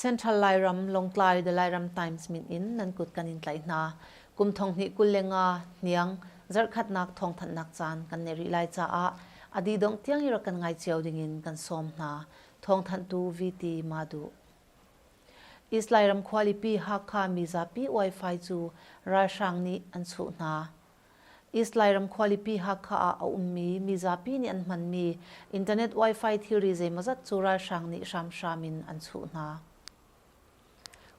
Central Lairam, Lawngtlai the Lairam Times min in nan kut kan in tlaih hna. Kum thong hnih kul le nga hniang zarkhatnak thongthanhnak caan kan nei rih lai caah adi dongh tiang i rak kan ngai cio dingin kan sawm hna. Thongthanhtu VT Madu. Israel ram khualipi Hakha mizapi Wi-Fi cu ralhrang nih an chuh hna. Israel ram khualipi Hakha ah a ummi mizapi nih an hmanmi internet Wi-Fi thilri zeimawzat cu ralhrang nih hramhram in an chuh hna.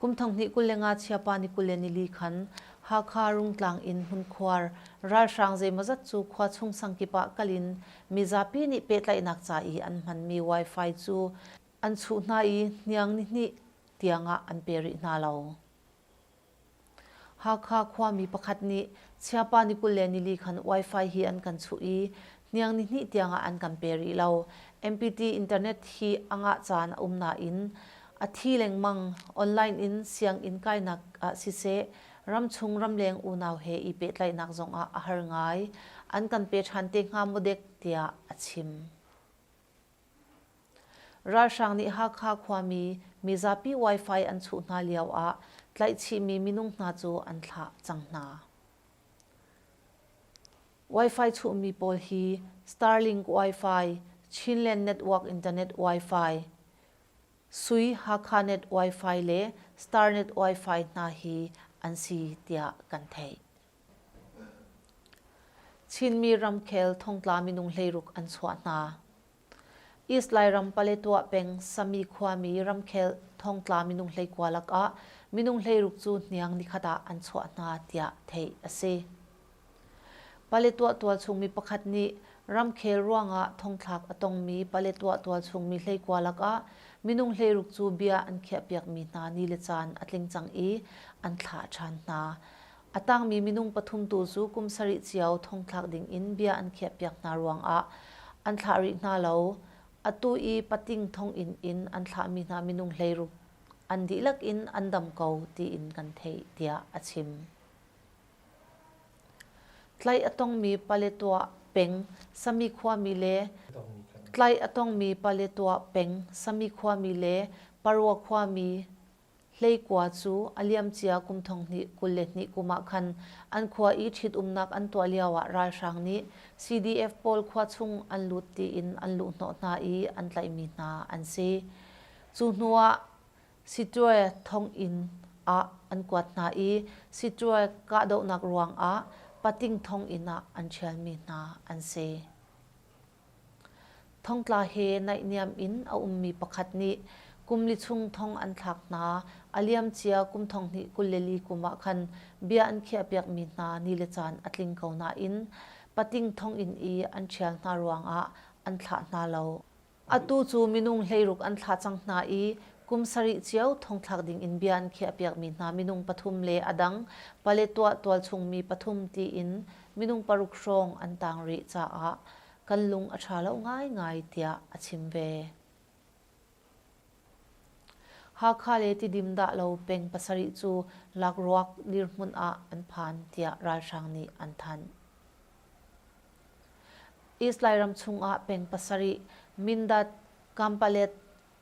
Kum thonghnih kul le nga chiapa ni kul le nili khan Hakha Rungtlang in hmunkhuar ralhrang zeimawzat cu khua chung sangkip ah kal in mizapi nih pehtlaihnak ca i an hmanmi Wi-Fi cu An chuh hna i hniang nihnih tiangah an pe rih hna lo. Hakha khuami pakhat nih Chiapa ni kul le nili khan wifi hi an kan chuh i hniang nihnih tiangah an kan pe rih lo. MPT internet hi a ngah caan a um nain a thi lengmang. Online in sianginn kainak ah siseh, ramchung ramleng unau he i pehtlaihnak zongah a har ngai. An kan pe ṭhan te hnga maw dek tiah a chim. Ralhrang nih Hakha khuami mizapi Wi-Fi an chuh hna lioah tlaihchihmi minung hna cu an thlah cang hna. Wi-Fi chuhmi pawl hi Starlink Wi-Fi, Chinland Network Internet Wi-Fi, Sui Hakhanet Wi-Fi le Starnet Wi-Fi hna hi an si tiah kan theih. Chinmi ramkhel thongtla minung hleiruk an chuah hna. Islai ram Paletwa peng Sami khuami ramkhel thongtla minung hleikua lakah minung hleiruk cu hniang nikhat ah an chuah hna tiah theih a si. Paletwa tualchungmi pakhat nih ramkhel ruangah thongthlak a tongmi Paletwa tualchungmi hleikua lakah minung hleiruk cu bia an khiahpiakmi hna ni le caan a tling cang i an thlah ṭhan hna. A tangmi minung pathum tu cu kum sarih cio thongthlak dingin bia an khiahpiak hna ruangah an thlah rih hna lo. Atu i pating thonginn in an thlahmi hna minung hleiruk an dihlak in an dam ko tiin kan theih, tiah a chim. Tlai a tongmi Paletwa peng Sami khuami le Tlai a tongmi Paletwa peng Sami khuami le Parwa khuami Hleikua cu a liamcia kum thonghnih kul le hnih kum ah khan an khua i ṭhitumnak an tuah lioah ralhrang nih CDF pawl khua chung an lut tiin an luhhnawh hna i an tlaihmi hna an si. Cu hnuah Siṭuae thonginn ah an kuat hna i Siṭuae kahdohnak ruangah Pating thonginn ah an ṭhialmi hna an si. Thongtla he naihniam in a ummi pakhat nih kum li chung thong an thlak hna. A liamcia kum thonghnih kul le li kum ah khan bia an khiahpiakmi hna ni le caan a tling ko nain pating thonginn i an ṭhial hna ruangah an thlah hna lo. Atu cu minung hleiruk an thlah cang hna i kum sarih cio thongthlak dingin bia an khiahpiakmi hna minung pathum le a dang pale tuah tualchungmi pathum tiin minung paruk hrawng an tang rih caah kan lung a ṭha lo ngaingai tiah a chim ve. Hakha le Tidim dah lo peng pasarih cu lakruak dirhmun ah an phan tiah ralhrang nih an thanh. Israel ram chung ah peng pasarih Mindat, Kampalet,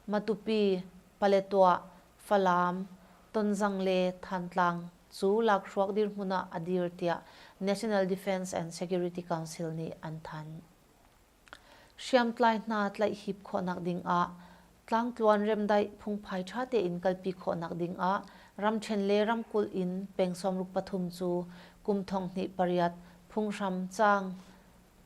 Matupi, Paletwah, Falam, Tonzang le Thantlang cu lakhruak dirhmun ah a dir tiah National Defence and Security Council nih an thanh. Hriamtlai hna tlaihhip khawhnak ding ah Tlangtluan remdaih phungphai ṭha tein kalpi khawhnak ding ah ramṭhen le ramkulh in peng sawmruk pathum cu kum thong hnih pariat phunghram caang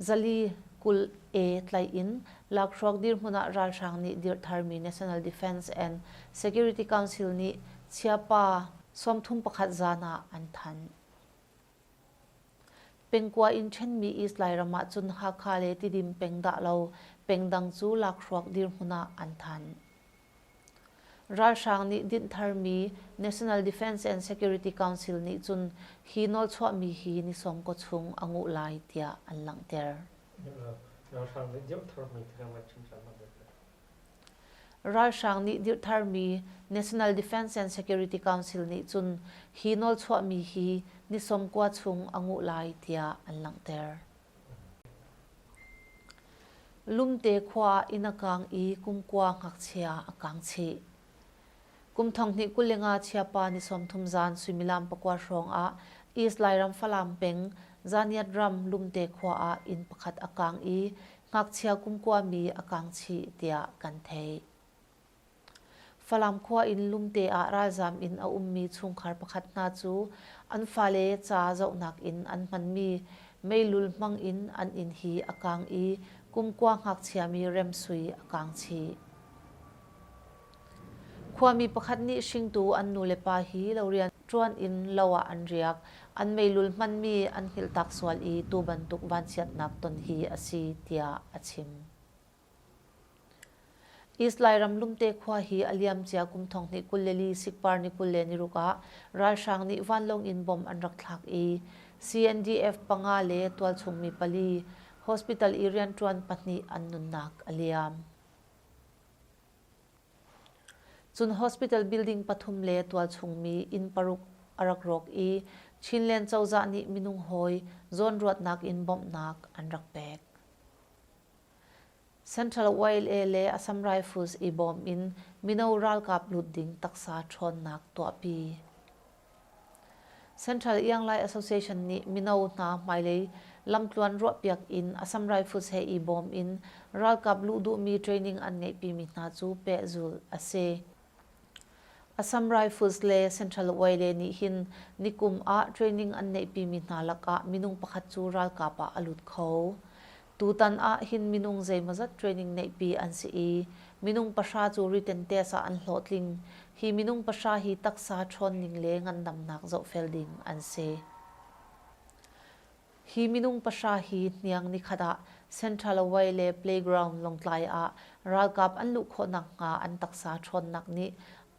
Zali kul A tlaih in lakhruak dirhmun ah ralhrang nih dirhtharmi National Defence and Security Council nih chiapa sawmthum pakhat zan ah an thanh. Pengkua in ṭhenmi East Lairam ah cun Hakha le Tidim peng dah lo pengdang cu lakhruak dirhmun ah an thanh. Ralhrang nih dinhtharmi National Defense and Security Council nih cun hi nawlchuahmi hi ni sawmkaw chung a nguh lai tiah an langhter. Ralhrang nih dirhtharmi National Defense and Security Council nih cun hi nawlchuahmi hi ni sawmkua chung a nguh lai tiah an langhter. Lumte khua ah inn a kaang i kumkua ngakchia a kaang chih. Kum thonghnih kuling ah chiapa ni sawmthum zan suimilam pakua hrawng ah East Lairam Falam peng Zaniat ram Lumte khua ah inn pakhat a kaang i ngakchia kumkua mi a kaang chih tiah kan theih. Falam khua in lumte ah ralzaam in a ummi chungkhar pakhat hna cu an fale ca zohnak in an hmanmi meilul hmang in an inn hi a kaang i kumkua ngakchiami remsui a kaang chih. Khuami pakhat nih hringtu an nulepa hi lo rian ṭuan in lo ah an riak. An meilul hmanmi an hngilhtak sual i tu bantuk vanchiatnak ton hi a si tiah a chim. Israel ramlumte khua hi a liamcia kum thong hnih kul le li sikpar ni kul le niruk ah ralhrang nih vanlawng in bomb an rak thlak i CNDF panga le tualchungmi pali hospital i rianṭuan pahnih an nunnak a liam. Cun hospital building pathum le tualchungmi inn paruk a rak rawk i Chinland cozah nih minung hawi zawnruatnak in bawmhnak an rak pek. Central YLA le Assam Rifles i bawm in mino ralkap lut ding taksa ṭhawnnak tuahpi. Central Ianglai Association nih mino hna hmailei lamtluan ruahpiak in Assam Rifles he i bawm in ralkap luh duhmi training an ngeihpimi hna cu pehzulh a si. Assam Rifles le Central Uaile nih hin nikum ah training an neihpimi hna lakah minung pakhat cu ralkap ah a lut kho. Tutan ah hin minung zeimawzat training neihpi an si i, minung pahra cu retentees ah an hlawhtling. Hi minung pahra hi taksa ṭhawnning le ngandamnak zohfel ding an si. Hi minung pahra hi hniang nikhat ah Centralaway le Playground Lawngtlai ah ralkap an luh khawh nakhnga an taksa ṭhawnnak nih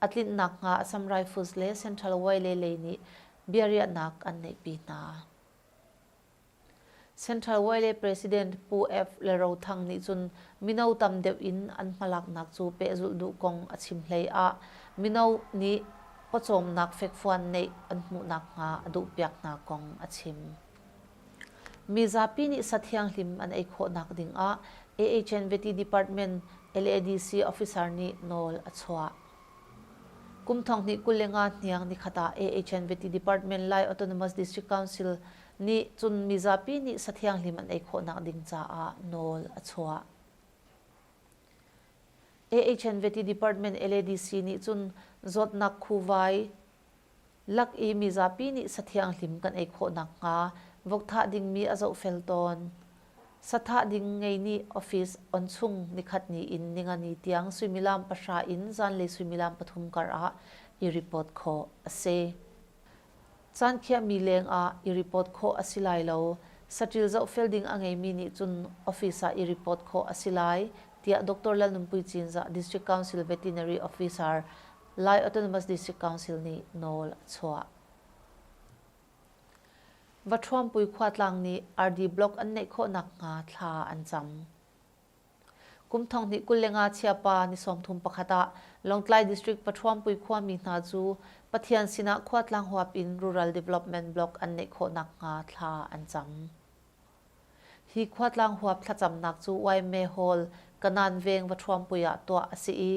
a tlinh nakhnga Assam Rifles le Centralaway le lei nih biariahnak an neihpi hna. Centralaway le President Pu F. Le Ro Thang nih cun mino tam deuh in an hmalaknak cu pehzulh duh kong a chim hlei ah mino nih pawcawmnak fekfuan neih an hmuh nakhnga a duhpiak hna kong a chim. Mizapi nih sa thianghlim an ei khawhnak dingah AHN Vety Department LADC officer nih nawl a chuah. Kum thong hnih kul le nga hniang nikhat ah AHN Vety Department Lai Autonomous District Council nih cun mizapi nih sa thianghlim an ei khawhnak ding caah nawl a chuah. AHNVety Department LADC nih cun zawtnak khuvai lak i mizapi nih sathianghlim kan ei khawh nakhnga vok thah dingmi a zohfel tawn. Sathah ding ngei nih office on chung nikhat ni in ningani tiang suimilam pahra in zanlei suimilam pathum kar ah i report khawh a si. Caan khiahmi lengah i report khawh a si lai lo. Saṭil zohfel ding a ngeimi nih cun office ah i report khawh a si lai, tiah Doctor Lalnunpui Cinzah District Council Veterinary Officer, Lai Autonomous District Council nih nawl a chuah. Vathuampui khuatlang nih ardi block an neih khawh nakhnga thla an cam. Kum thong hnih kul le nga chiapa ni sawmthum pakhat ah Lawngtlai District Pathuampui khuami hna cu Pathian sinah khuatlang huap in Rural Development Block an neih khawh nakhnga thla an cam. Hi khuatlang huap thlacamnak cu Waime Hall, Kanan Veng Vathuampui ah tuah a si i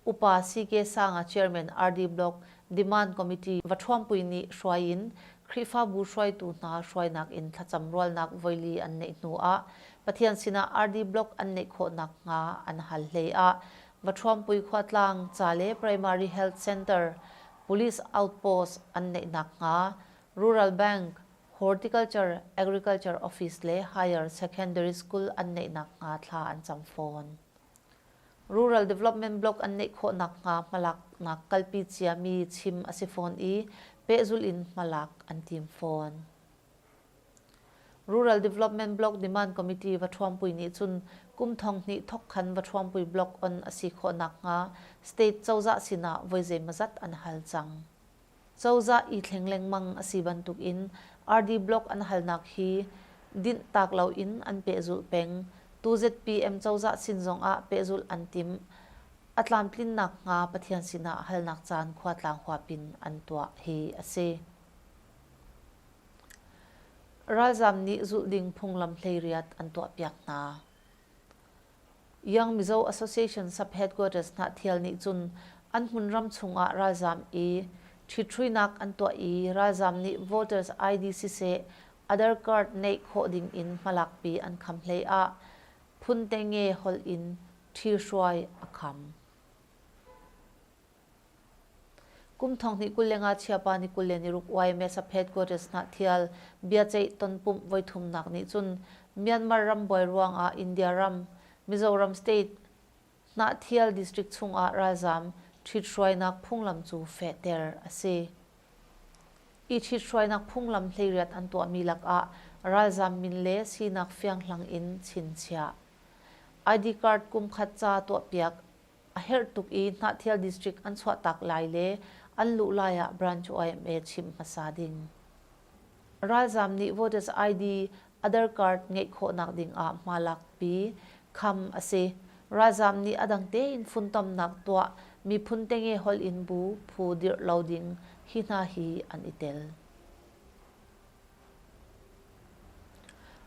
Upa CK Sanga Chairman RD Block Demand Committee Vathuampui nih hruai in Khrihfabu hruaitu hna hruainak in thlacam rualnak voili an neih hnu ah Pathian sinah RD Block an neih khawh nakhnga an hal hlei ah Vathuampui Khuatlang ca le Primary Health Centre Police Outpost an neih nakhnga Rural Bank Horticulture Agriculture Office le Higher Secondary School an neih nakhnga thla an cam fawn. Rural Development Block an neih khawh nakhnga hmalaknak kalpi ciami chim a si fawn i pehzulh in hmalak an tim fawn. Rural Development Block Demand Committee Vathuampui nih cun kum thong hnih thawkkhan Vathuampui Block on a si khawh nakhnga state cozah sinah voi zeimawzat an hal cang. Cozah i thleng lengmang a si bantukin RD Block an halnak hi dinhtak loin an pehzulh peng. Tu zpm cozah sin zongah pehzulh an timh. A tlamtlinnak hnga Pathian sinah halnak caan khuatlang huapin an tuah hi a si. Ralzam nih zulh ding phunglam hleiriat an tuahpiak hna. Yang Mizo Association sub-headquarters hnahthial nih cun an hmun ram chungah ralzaam i ṭhithruinak an tuah i ralzaam nih voters ID siseh other card neih khawh ding in hmalakpi an kham hlei ah Phun Tenge holh in ṭhihruai a kham. kum thong hnih kul le ngachia pa ni kul le niruk YMS a headquarters na thial biaceih tonpumh voithumnak nih cun Myanmar ram buai ruang ah India ram Mizoram state na thial district chung ah ralzam ṭhithruainak phunglam cu fehter a si i ṭhithruainak phunglam hleiriat an tuahmi lakah ralzam min le sinak fianghlang in chinchiah id card kum khat ca tuahpiak A herh tuk i Hnahthial District an chuahtak lai le an luh lai ah Branch yma chimh hmasa ding. Ralzam nih Voters ID Other Card ngeih khawhnak ding ah hma lakpi, kham a si. Ralzam nih a dang tein funtomnak tuah, miphun tenge holh in bu phu dirh lo ding hi hna hi an i tel.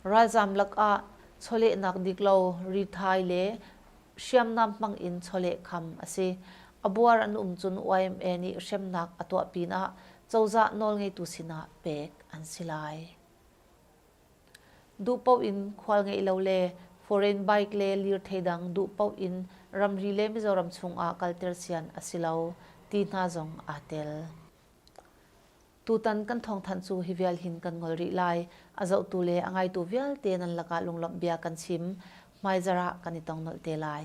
Ralzaam lakah chawlehnak diklo rithai le hriamnam hmangin chawleh kham a si. A buar an um cun YMA nih hremnak a tuah pinah cozah nawlngeitu sinah pek an si lai. Duh paoh in khual ngeih lo le foreign bike le lirthei dang duh paoh in ramri le Mizoram chungah kalter sian a si lo ti hna zong aa tel. Tutan kan thawngthanh cu hi vial hin kan ngol rih lai. A zohtu le a ngaitu vialte nan lakah lunglawmh bia kan chim, hmaizarh ah kan i tongnolh te lai.